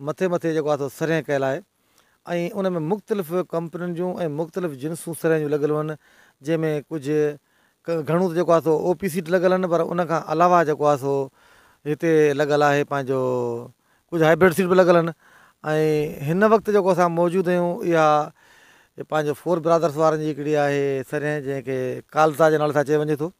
مٿي مٿي جيڪو آهي سو سرهين ڪيل آهي ۽ ان ۾ مختلف ڪمپنين جون ۽ مختلف جنسون سرهين جون لڳل هن جنهن ۾ ڪجهه گهڻو ته جيڪو آهي سو او پي سيٽ لڳل هن پر ان کان علاوه جيڪو آهي سو هتي لڳل آهي پنهنجو ڪجهه هائبريڊ سيٽ به لڳل هن ۽ هن وقت جيڪو اسان موجود آهيون اها پنهنجو فور برادرس وارن جي هڪڙي آهي سرهين جنهن کي ڪالزا جي نالي سان چيو وڃي ٿو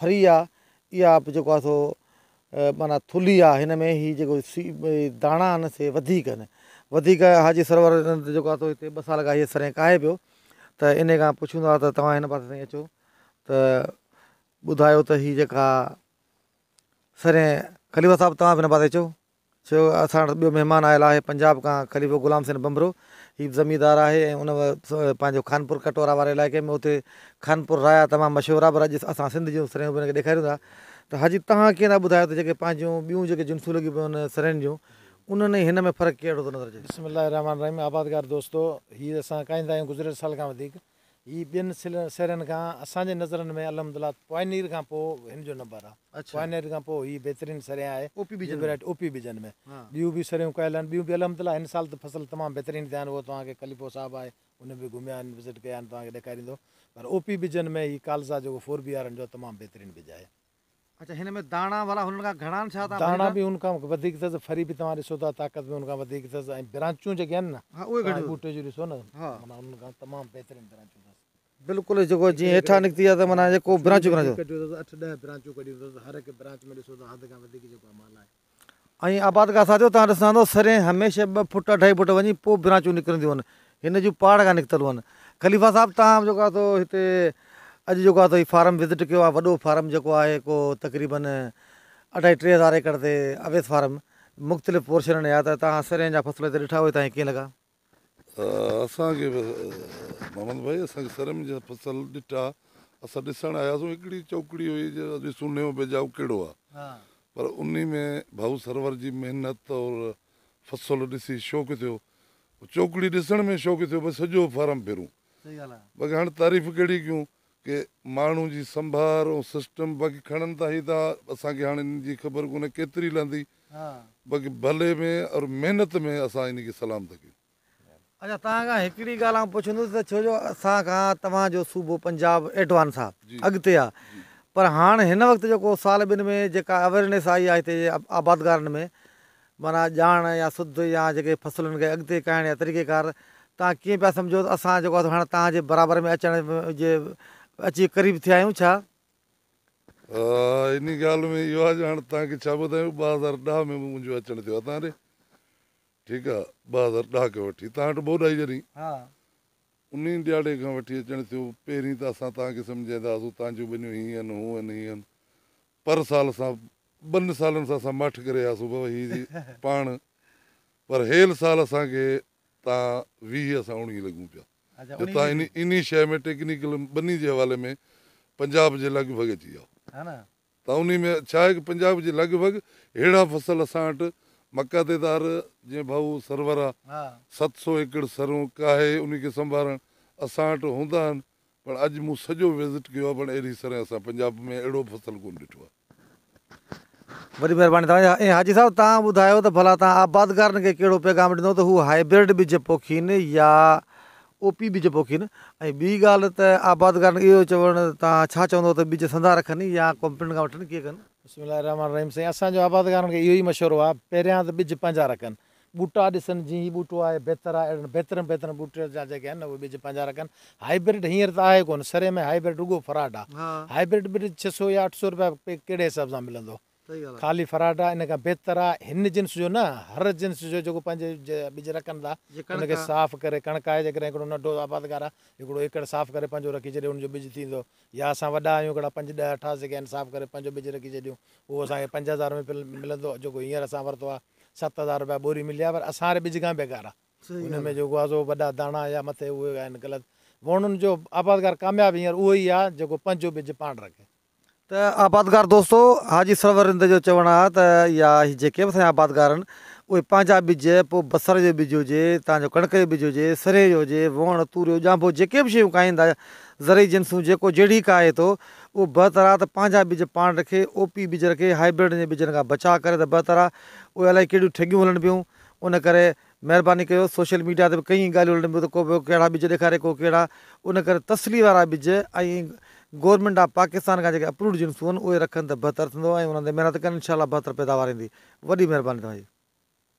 ڦري آ اها به جيڪو آ سو معنيٰ ٿلهي آ هن ۾ هي جيڪو داڻا آهن سي وڌيڪ آهن وڌيڪ حاجي سرور جيڪو آ سو هتي ٻه سال کان هي سرنهن ڪاهي پيو ته ان کان پڇون ٿا ته توهان هن پاسي تائين اچو ته ٻڌايو ته هي جيڪا سرنهن خليفه صاحب توهان به هن پاسي اچو چيو اسان وٽ ٻيو مهمان آيل آهي پنجاب کان خليفو غلام حسين ڀنڀرو هي به زميندار آهي ۽ ان پنهنجو خانپور ڪٽورا واري علائقي ۾ اتي خانپور رايا تمام مشهور آهي پر اڄ اسان سنڌ جون سرهيون به ان کي ڏيکاريون ٿا ته حاجي تهان ڪيئن ٿا ٻڌايو ته جيڪي پنهنجون ٻيون جيڪي جنسون لڳيون پيون آهن سرهين جون انهن ۽ هن ۾ فرق ڪهڙو ٿو نظر اچي. بسم الله الرحمٰن الرحيم آبادگار دوستو هي اسان ڪاهيندا آهيون گذريل سال کان وڌيڪ هي ٻين سيرين کان اسان جي نظرن ۾ الحمدلله پوائنير کان پوء هن جو نمبر آ. پوائنير کان پوء هي بهترين سرين آهي. او پي بيجن ۾. او پي بيجن ۾ ٻيون به سريون ڪيل آهن ٻيون به الحمدلله هن سال ته فصل تمام بهترين ٿيا آهن اهو توهان کي خليفو صاحب آهي ان به گهميا آهن وزٽ ڪيا آهن توهان کي ڏيکاريندو پر او پي بيجن ۾ هي ڪالزا جيڪو فور بي آر ان جو تمام بهترين بيج آهي. داڻا به ان کان وڌيڪ اٿس، ڦري به توهان ڏسو ٿا، طاقت به ان کان وڌيڪ اٿس ۽ برانچون جيڪي آهن نه، توهان ٻوٽي جون ڏسو نه، معنيٰ انهن کان تمام بهترين برانچون اٿس. وڌيڪ ڪڍيو اٿس، اٺ ڏهه برانچون ڪڍيون اٿس، هر هڪ برانچ ۾ ڏسو ته حد کان وڌيڪ جيڪو آهي مال آهي. ائين آبادگار ساٿيو توهان ڏسندا ته سرين هميشه ٻه فوٽ اڍائي فوٽ وڃي پوء برانچون نڪرنديون آهن هن جون پاڙ کان نڪتل آهن خليفا صاحب توهان جيڪو آهي سو هتي اڄ جيڪو آهي سو هي فارم وزٽ ڪيو آهي وڏو فارم جيڪو آهي ڪو تقريبن اڍائي ٽي هزار ايڪڙ تي اويس فارم مختلف پورشنن آهي ته توهان سرين جا فصل هتي ڏٺا هئي توهان کي ڪيئن لڳا؟ اسان کي محمد ڀائي اسان کي سر ۾ جڏهن فصل ڏٺا اسان ڏسڻ آياسون هڪڙي چوڪڙي هئي جو ڏسون نيو بيجاو ڪهڙو آ پر انهي ۾ ڀائو سرور جي محنت اور فصل ڏسي شوق ٿيو چوڪڙي ڏسڻ ۾ شوق ٿيو ڀئي سڄو فارم ڦرون باقي هاڻ تعريف ڪهڙي ڪيون ڪي ماڻهو جي سنڀار ۽ سسٽم باقي کڻن ته هي ته اسان کي هاڻي ان جي خبر ڪونهي ڪيتري لهندي باقي ڀلي ۾ اور محنت ۾ اسان انهي کي سلام ٿا ڪيون. اچا توهان کان هڪڙي ڳالهه آئون پڇندس ته ڇو جو اسان کان توهان جو صوبو پنجاب ايڊوانس آ اڳتي آ پر هاڻ هن وقت جيڪو سال ٻن ۾ جيڪا اويرنيس آئي آ هتي جي آبادگارن ۾ معنيٰ ڄاڻ يا سڌ يا جيڪي فصلن کي اڳتي ڪهڻ يا طريقيڪار توهان ڪيئن پيا سمجهو ته اسان جيڪو آهي هاڻي توهان جي برابر ۾ اچڻ جي اچي قريب ٿيا آهيون ڇا؟ انهي ڳالهه ۾ اهو آهي جو هاڻي توهان کي ڇا ٻڌايون ٻه هزار ڏهه ۾ به منهنجو اچڻ ٿيو هتان ڏي ٺيڪ آهي ٻه هزار ڏهه کان وٺي توهان وٽ ٻوڏائي جڏهين انهي ڏهاڙي کان وٺي اچڻ ٿيو پهرين ته اسان توهان کي سمجهائيندا هئاسون توهان جون ٻنيون هيئن هونئن هيئن پر سال اسان ٻن سالن سان اسان ماٺ ڪري آياسون بابا هي جي پاڻ پر هيل سال اسان کي تان ويهه اسان اوڻيهه لڳون پيا جو تان اني اني شيء ۾ ٽيڪنيڪل ٻني جي حوالي ۾ پنجاب جي لڳ ڀڳ اچي ويا تان اني ۾ ڇا آهي ڪي پنجاب جي لڳ ڀڳ هيڙا فصل اسان وٽ مڪا تي تار جيئن ڀائو سرور آ ست سو ايڪڙ سرون ڪاهي اني کي سنڀارڻ اسان وٽ هوندا آهن پر اڄ مون سڄو وزٽ ڪيو آهي پر اهڙي سرهي اسان پنجاب ۾ اهڙو فصل ڪونه ڏٺو آهي. وڏي مهرباني توهان جي. ۽ حاجي صاحب توهان ٻڌايو ته ڀلا توهان آبادگارن کي ڪهڙو پيغام ڏنو ته هو هائبرڊ ٻج پوکين يا او پي ٻج پوکين ۽ ٻي ڳالهه ته آبادگارن کي اهو چوڻ توهان ڇا چوندو ته ٻج سندا رکن يا ڪمپنين کان وٺن ڪيئن ڪن؟ بسم الله الرحمن الرحيم سائين اسان جو آبادگارن کي اهو ئي مشورو آهي پهريان ته ٻج پنهنجا رکن ٻوٽا ڏسن جيئن هي ٻوٽو آهي بهتر آهي اهڙن بهترين بهترين ٻوٽن جا جيڪي آهن نه اهي ٻج پنهنجا رکن هائبرڊ هينئر ته آهي ڪونه سري ۾ هائبرڊ رڳو فراڊ آهي هائبرڊ ٻج ڇهه سؤ يا اٺ سؤ روپيا پي ڪهڙي حساب سان ملندو خالي فراڊ آهي ان کان بهتر آهي هن جنس جو نه هر جنس جو جيڪو پنهنجي ٻج رکن ٿا ان کي صاف ڪري ڪڻڪ آهي جيڪڏهن هڪڙو ننڍو آبادگار آهي هڪڙو ايڪڙ صاف ڪري پنهنجو رکي ڇڏي ان جو ٻج ٿيندو يا اسان وڏا آهيون هڪڙا پنج ڏهه اٺاس جيڪي آهن صاف ڪري پنهنجو ٻج رکي ڇڏيون اهو اسان کي پنج هزار ۾ ملندو جيڪو هينئر اسان ورتو آهي ست هزار روپيا ٻوري ملي آهي پر اسان واري ٻج کان به بيڪار آهي صحيح ان ڳالهه ۾ آهي. جيڪو آزو وڏا داڻا يا مٿي اهي آهن غلط ووڻن جو آبادگار ڪامياب هينئر اهو ئي آهي جيڪو پنهنجو ٻج پاڻ رکي. ته آبادگار دوستو حاجي سرور رند جو چوڻ آهي ته يا هي جيڪي به اسان جا آبادگار آهن اهي پنهنجا ٻج پوء بصر جو ٻج هجي تانجو ڪڻڪ جو ٻج هجي سرهي جو هجي ووڻ توريو ڄانڀو جيڪي به شيون کائيندا زرعي جنسون جيڪو جهڙي ڪاهي ٿو اهو بهتر آهي ته پنهنجا ٻج پاڻ رکي، او پي ٻج رکي، هاء برڊن جي ٻجن کان بچاء ڪري ته بهتر آهي، اهي الائي ڪهڙيون ٺڳيون هلن پيون، ان ڪري مهرباني ڪيو، سوشل ميڊيا تي به ڪئين ڳالهيون هلن پيون ته ڪو پيو ڪهڙا ٻج ڏيکاري ڪو ڪهڙا، ان ڪري تسلي وارا ٻج ۽ گورنمينٽ آف پاڪستان کان جيڪي اپرووڊ جنسون هئن اهي رکن ته بهتر ٿيندو ۽ انهن تي محنت ڪن انشاء الله بهتر پيداوار ايندي، وڏي مهرباني توهان جي.